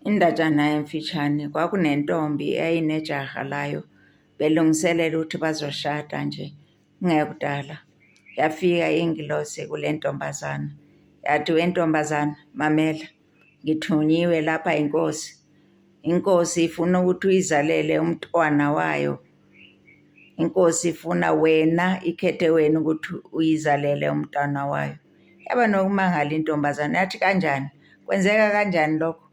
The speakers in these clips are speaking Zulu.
Indatshana emfishane, kwakunentombi eyayinejaha layo belungiselela ukuthi bazoshada nje kungekudala. Yafika ingilosi kule ntombazana yathi, wentombazana mamela ngithunyiwe lapha inkosi, inkosi ifuna ukuthi uyizalele umntwana wayo. inkosi ifuna wena ikhethe wena ukuthi uyizalele umntwana wayo yaba nokumangala intombazane yathi kanjani kwenzeka kanjani lokho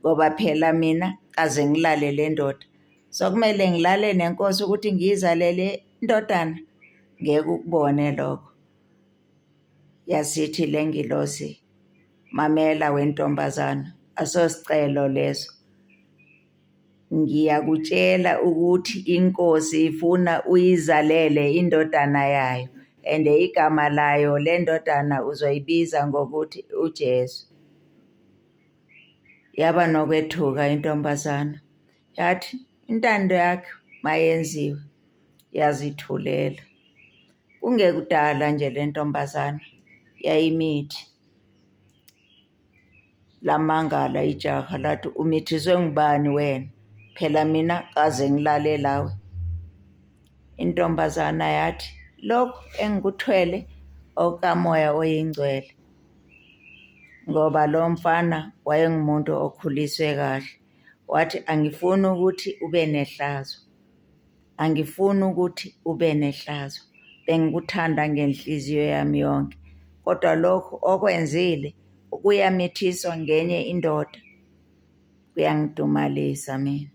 ngoba phela mina kaze ngilale le ndoda so kumele ngilale nenkosi ukuthi ngiyizalele indodana ngeke ukubone lokho yasithi le ngilosi mamela wentombazana asosicelo leso Ngiyakutshela ukuthi iNkosi ifuna uyizalele indodana yayo and igama layo le ndodana uzoyibiza ngokuthi uJesu. Yaba nokwethuka intombazana yathi intando yakhe mayenziwe yazithulela. Kungekudala nje le ntombazana yayimithi. lamangala ijaha lathi umithiswe ngubani wena phela mina kaze ngilale lawe intombazana yathi lokhu engikuthwele okamoya oyingcwele ngoba lo mfana wayengumuntu okhuliswe kahle wathi angifuni ukuthi ube nehlazo Angifuni ukuthi ube nehlazo. Bengikuthanda ngenhliziyo yami yonke. Kodwa lokhu okwenzile ukuyamithiswa ngenye indoda kuyangidumalisa mina.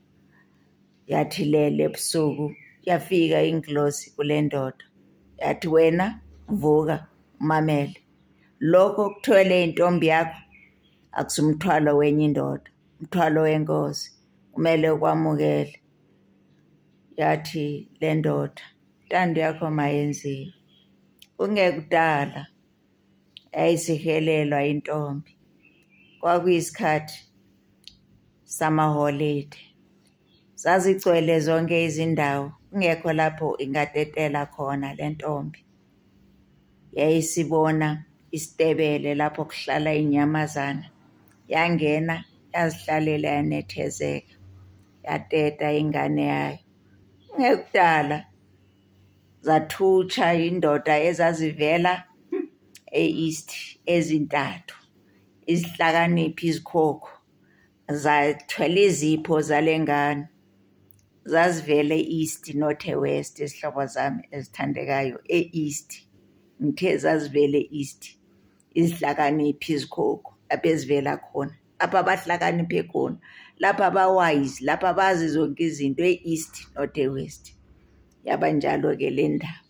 Yathi lele ebusuku yafika ingilosi kule ndoda yathi wena vuka umamele lokho okuthwele intombi yakho akusumthwalo wenye indoda umthwalo wenkosi kumele ukwamukele yathi le ndoda intando yakho mayenziwe kungekudala yayisihelelwa intombi kwakuyisikhathi samaholide zazigcwele zonke izindawo kungekho lapho ingatetela khona le ntombi. yayisibona isitebele lapho kuhlala inyamazana yangena yazihlalela yanethezeka yateta ingane yayo ngekudala zathutsha indoda ezazivela e-east ezintathu izihlakaniphi izikhokho zathwele izipho zale ngane zazivele e-east not e-west izihlobo zami ezithandekayo e-east ngithe zazivele e-east izihlakaniphi izikhokho lapho ezivela khona lapho abahlakaniphe khona lapho abawise lapho abazi zonke izinto e-east not e-west yaba njalo-ke le ndaba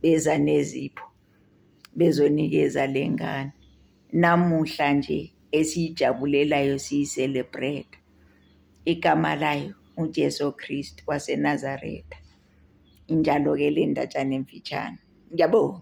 beza nezipho bezonikeza le ngane namuhla nje esiyijabulelayo siyiselebreta igama layo uJesu Kristu waseNazaretha injalo-ke le ndatshana emfitshane ngiyabonga